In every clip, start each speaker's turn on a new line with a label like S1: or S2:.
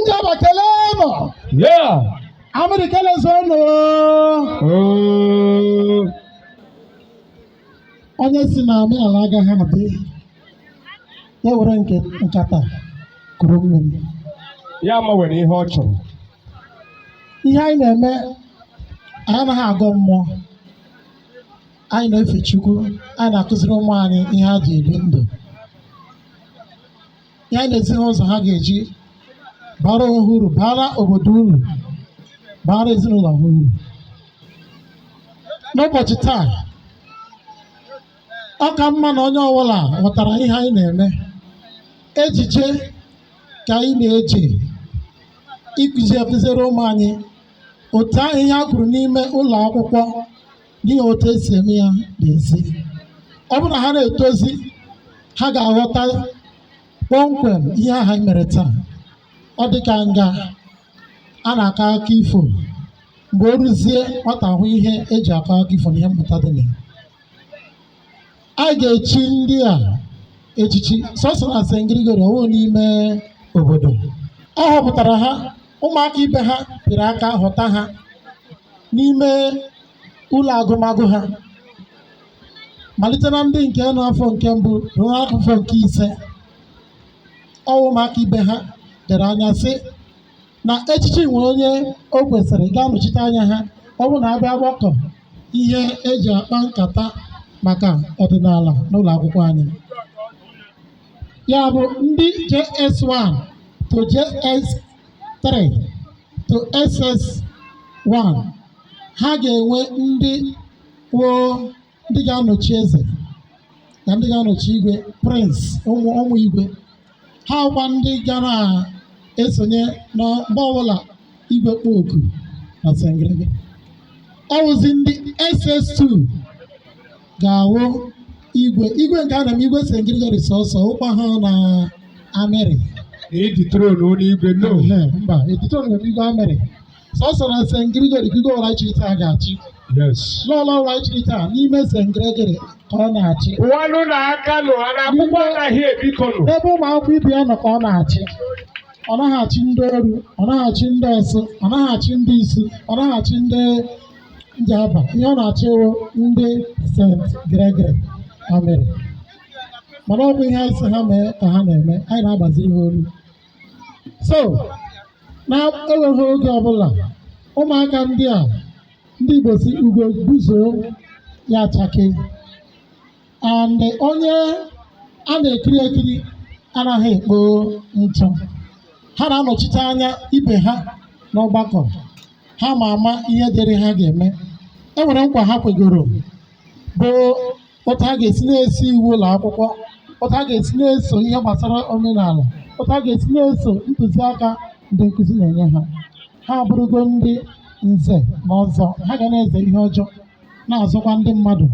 S1: Njaba kelee nụ.
S2: Yeah. Amịrị
S1: kelezuo nụ. Oh. Onye sị na omenala agaghị adị. Ya were nke nkata kuru mmiri. Ya
S2: ma were ihe ọ
S1: chọrọ. Ihe anyị na-eme anyị anaghị agọ mmụọ. Anyị na-efe Chukwu, anyị na-akụziri ụmụ anyị ihe ha ji ebi ndụ. ihe anyị na-ezi ha ụzọ ha ga-eji baara onwe ha uru baara obodo uru baara ezinụlọ ha uru n'ụbọchị taa ọ ka mma na onye ọbụla ghọtara ihe anyị na-eme ejije ka anyị na-eji ịkụzi akụziri ụmụ anyị otu ahụ ihe a kwuru n'ime ụlọ akwụkwọ dị na otu esi eme ya n'ezi ọ bụrụ na ha na-etozi ha ga-aghọta kpọmkwem ihe ahụ anyị mere taa ọ dị ka nga a na-akọ akụkọ ifo mgbe o ruzie nwata hụ ihe eji akọ akụkọ ifo na ihe mmụta dị na ya anyị ga-echi ndị a echichi sọsọ na St. Gregory ọ wụghị n'ime obodo a họpụtara ha ụmụaka ibe ha pịrị aka họta ha n'ime ụlọ agụmagụ ha malite na ndị nke nọ afọ nke mbụ ruo afọ nke ise ọ wụ ụmụaka ibe ha dere anya sị na echichi nwere onye o kwesịrị ga-anọchite anya ha ọ bụrụ na a bịa gbakọ ihe eji akpa nkata maka ọdịnala n'ụlọ akwụkwọ anyị ya bụ ndị JS1 to JS3 to SS1 ha ga-enwe ndị woo ndị ga-anọchi eze na ndị ga-anọchi igwe prịns ụmụ ụmụ igwe ha wụkwa ndị ga na-esonye na mgbe ọbụla igwe kpọ oku na sengrege ọ wụzi ndị ss2 ga-awụ igwe igwe nke a na-eme igwe St. Gregory sọsọ ọ wụkwaghị na amịrị E
S2: dethrone na igwe nụ. Ehe, mba e
S1: dethrone na igwe amịrị sọsọ na St. Gregory ka igwe ọra chiri taa ga-achị Yes.
S2: lọlọ ọra
S1: chiri taa n'ime St. Gregory ka ọ na-achị Ọ wanụ na a
S2: ka nọ ha n'akwụkwọ anaghị ebikọ nụ. ebe ụmụ akwụkwọ ibe ya nọ
S1: ka ọ na-achị ọ naghị achị ndị oru ọ naghị achị ndị ọsụ ọ naghị achị ndị isu ọ naghị achị ndị njaba ihe ọ na-achị wụ ndị St. Gregory Amịrị mana ọ bụ ihe anyị sị ha mee ka ha na-eme anyị na-agbaziri ha olu so na-egbughị oge ọbụla ụmụaka ndị a ndị Igbo si ugo gbuzuo ya achake and onye a na-ekiri ekiri anaghị ekpo ntụ ha na-anọchite anya ibe ha n'ọgbakọ ha ma ama ihe dịrị ha ga-eme e nwere nkwa ha kwegoro bụ otu ha ga-esi na-eso iwu ụlọ akwụkwọ otu ha ga-esi na-eso ihe gbasara omenala otu ha ga-esi na-eso ntụziaka ndị nkụzi na-enye ha ha abụrụgo ndị nze na ọzọ ha ga na-eze ihe ọjọọ na-azọkwa ndị mmadụ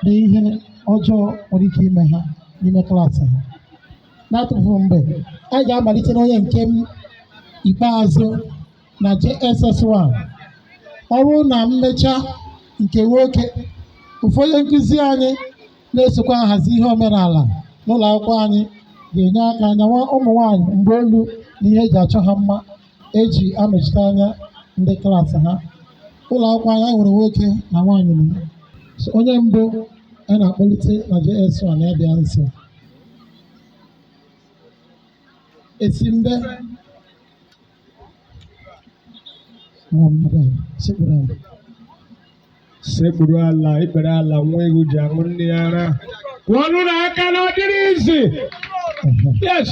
S1: na ihe ọjọọ nwere ike ime ha n'ime klaasị ha n'atụfu mgbe anyị ga-amalite n'onye nke m ikpeazụ na JSS1 ọ bụrụ na m mechaa nke nwoke ụfọdụ nkụzi anyị na-esokwa ahazi ihe omenala n'ụlọ akwụkwọ anyị ga-enye aka nyawa ụmụ nwanyị mgba olu na ihe eji achọ ha mma eji anọchite anya ndị klaasị ha ụlọ akwụkwọ anyị nwere nwoke na nwaanyị na ya. So, onye mbụ a na-akpọlite na JS1 ya bịa nso esimbe
S2: sekpuru ala ikpere ala nwa ewu ji aṅụ nne ya ara kụọnụ ya aka na ọ dịrọ easy yes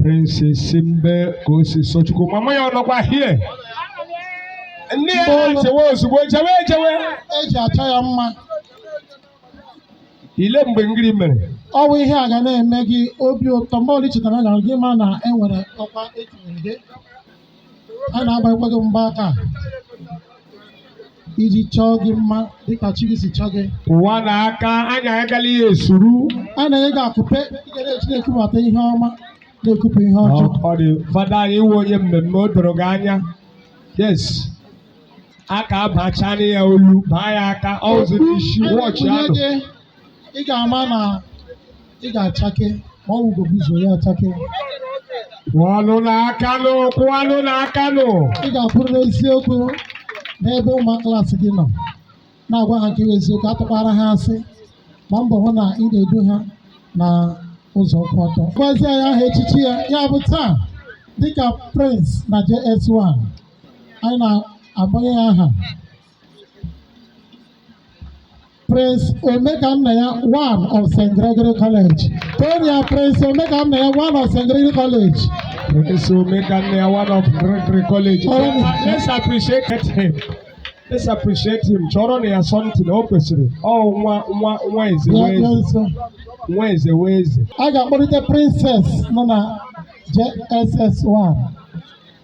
S2: Prince Esimbe Kosisochukwu mama ya ọ nọkwa here nne ya na-echewe ozugbo jewe ejewe eji achọ
S1: ya mma
S2: ile mgbe ngiri mere ọ bụ ihe a
S1: ga na-eme gị obi ụtọ mgbe ọbụla i chetara na gị ma na e nwere ọkwa etinyere gị a na-agbanyekwa gị mgba aka iji chọọ gị mma dịka chi gị si chọọ gị mma na aka
S2: anyị agala ihe esuru a na-enye gị akụpe
S1: ị ga na-eji na-ekubata ihe ọma na-ekupụ ihe ọjọọ ọ dị
S2: fada anyị iwe onye mmemme o doro gị anya yes aka abachana ya olu baa ya aka ọzi isi wọchị Onye ahụ gị
S1: ị ga-ama na ị ga-achake ma ọ wụ ugo gbuzuo ya
S2: achake kụọnụ ya aka nụ kụọnụ ya aka nụ ị ga-akwụrụ
S1: n'eziokwu n'ebe ụmụ klaasị gị nọ na-agwa ha nke bụ eziokwu atụkwara ha asị gbaa mbọ hụ na ị na-edu ha na ụzọ kwụ ọtọ gwazie ya aha echichi ya ya bụ taa dịka prince na js1 anyị na-agbanye ya aha Prince Omekannaya one of St. Gregory College. Toonụ ya Prince Omekannaya one of St. Gregory College. Prince
S2: Omekannaya one of Gregory College. Uh, let's appreciate him. Let's appreciate him. Chọọrọnụ ya something o kwesịrị. Ọ nwa nwa nwa eze wụ eze. Nwa eze wụ eze. A ga-akpọlite
S1: princess nọ na JSS1.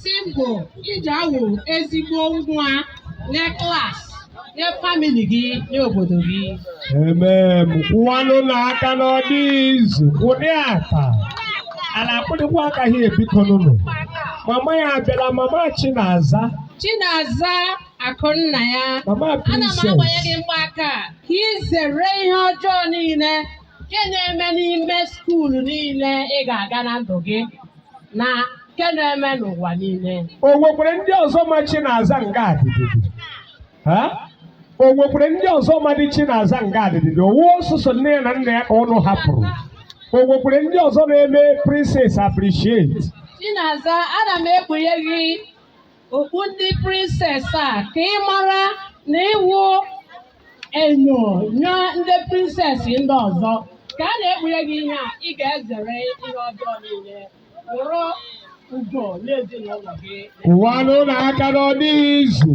S3: Symbol iji awụ ezigbo nwa nye klas nye famili gị nye obodo gị. Emem
S2: kụwanụ ya aka na ọ dịghị easy ụdị aka a na-akụ dịkwa aka ha e biko nụnụ mama ya abịala mama Chinaza Chinaza Akụnna
S3: ya mama ana m agbanye
S2: gị princess
S3: mgbaaka a ka i zere ihe ọjọọ niile nke na-eme n'ime skuulu niile ị ga-aga na ndụ gị na nke na-eme n'ụwa niile o nwekwara ndị
S2: ọzọ ma Chinaza nga a dịdị Ha? o nwekwara ndị ọzọ madị Chinaza nga a dịdị ọ wụ sọọsọ nne ya na nna ya ka ụnụ hapụrụ o nwekwara ndị ọzọ na-eme princess appreciate Chinaza
S3: ana m ekpunye gị okpu ndị princess a ka ị mara na ị wụ enyo nye ndị princess ndị ọzọ ka a na-ekpunye gị ihe a ị ga-ezere ihe ọjọọ niile wụrụ ugo n'ezinụlọ gị Kụwanụ
S2: ya aka na ọ dịghị easy.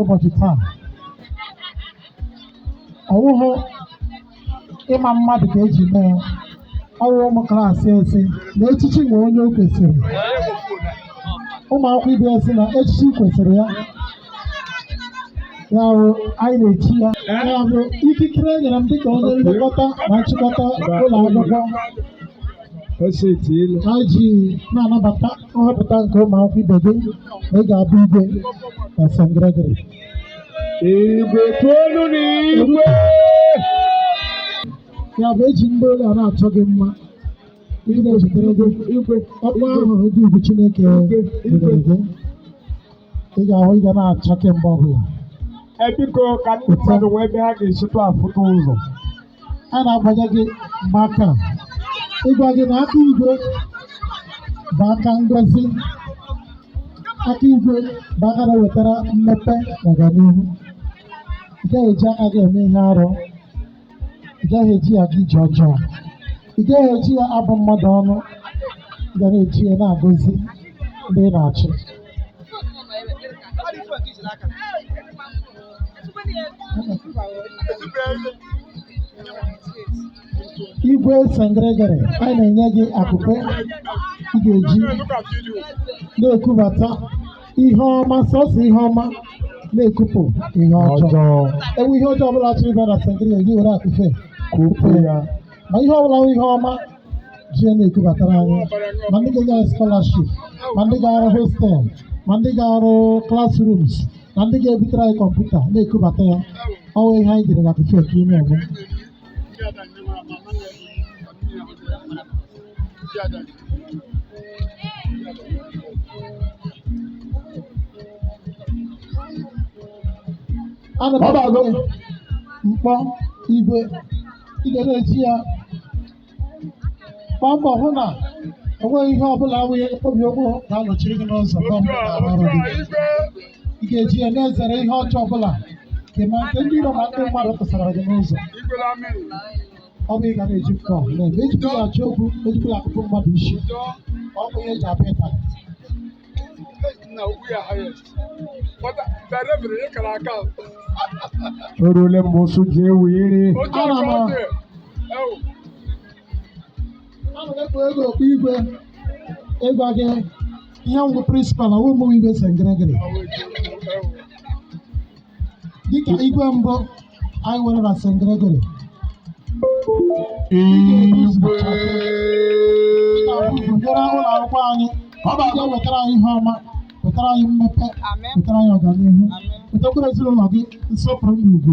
S1: ụbọchị taa ọ wụhụ ịma mmadụ ka e ji mee ya ọ wụ ụmụ klaasị ya sị na echichi nwe onye o kwesịrị ụmụ akwụkwọ ibe ya sị na echichi kwesịrị ya ya bụ anyị na-echi ya ya bụ ikikere e nyere m dịka onye nlekọta na nchịkọta ụlọ akwụkwọ esetiela ha ji na-anabata nhọpụta nke ụmụ akwụkwọ ibe gị na ị ga-abụ igwe na St. Gregory
S2: igwe toonụ ya igwe
S1: ya bụ e ji mgbaolu a na-achọ gị mma ị na-ezitere gị igwe ọkpọ ahụ dị ugwu Chineke nyere gị ị ga-ahụ ị ga na-achake mgbe ọbụla e
S2: biko ka ndị mmadụ nwee ebe ha ga-esitụ afụta ụzọ
S1: a na-agbanye gị mgbaaka ịgwa gị na aka igwe bụ aka ngozi aka igwe bụ aka na-ewetara mmepe na ọganihu ị gaghị eji aka gị eme ihe arụ ị gaghị eji ya aga ije ọjọọ ị gaghị eji ya abụ mmadụ ọnụ ị ga na-eji ya na-agọzi ndị ị na-achị igwe St. Gregory anyị na-enye gị akụpe ị ga-eji na-ekubata ihe ọma sọsọ ihe ọma na-ekupụ ihe ọjọọ o nwee ihe ọjọọ ọbụla chọrọ ịbịa na St. Gregory gị were akụpe kupụ ya ma ihe ọbụla bụ ihe ọma ji ya na-ekubatara anyị ma ndị ga-enye anyị scholarship ma ndị ga-arụ hostel ma ndị ga-arụ classrooms na ndị ga-ebutere anyị kọmputa na-ekubata ya ọ bụ ihe anyị jiri akụpe na-eme Ana m Ọ bụ agụ. mkpọ igwe ị ga na-eji ya gbaa mbọ hụ na enweghị ihe ọbụla wụ mkpọbi ụkwụ ga-anọchiri gị n'ụzọ ọrụ gị ị ga-eji ya na-ezere ihe ọjọọ ọbụla nke ma nke ndị iro ma ndị mmadụ tụsara gị n'ụzọ ọ bụ ihe ị ga na-eji mkpọ na-eme ejikwala ya achọ okwu ejikwala ya akụkpọ mmadụ isi ọ bụ ihe eji abịa ịta
S2: o ruole mgbe ụsụ ji ewe iri Ana m
S1: ekpu gị okpu igwe ịgwa gị ihe ngwụ principal ọwụ ụmụ igwe St. Gregory dịka igwe mbụ anyị nwere na St. Gregory Igwe. gụnyere ụlọ akwụkwọ anyị ọ ga-ewetara anyị ihe ọma wetara anyị mmepe wetara anyị ọganihu wetakwara ezinụlọ gị nsọpụrụ na ugwu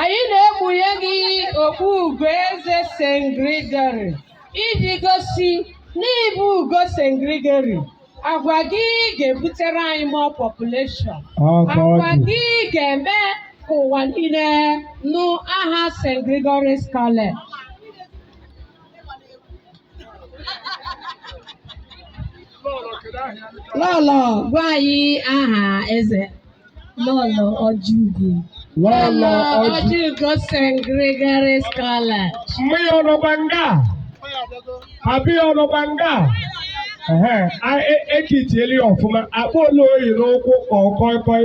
S3: anyị na-ekpunye gị okpu ugo eze St. Gregory iji gosi na ị bụ ugo St. Gregory agwa gị ga-ebutere anyị more population agwa gị ga-eme ka ụwa niile nụ aha St. Gregory's College Lọlọ gwa anyị aha eze Lọlọ
S4: Ọjịugo Lọlọ
S3: Ọjị Ọjịugo St. Gregory's College mgbe ya ọ
S2: nọkwa nga a? abịa ya ọ nọkwa nga a? Ehe, a- e- ekitiele ya ọfụma akpọla o yi n'ụkwụ ka ọ kọịkọị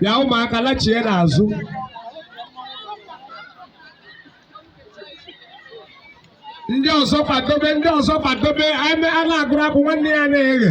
S2: bịa ụmụaka lachie n'azụ ndị ọzọ kwadobe ndị ọzọ kwadobe a na-agụrụ akwụ nwanne ya na-eghe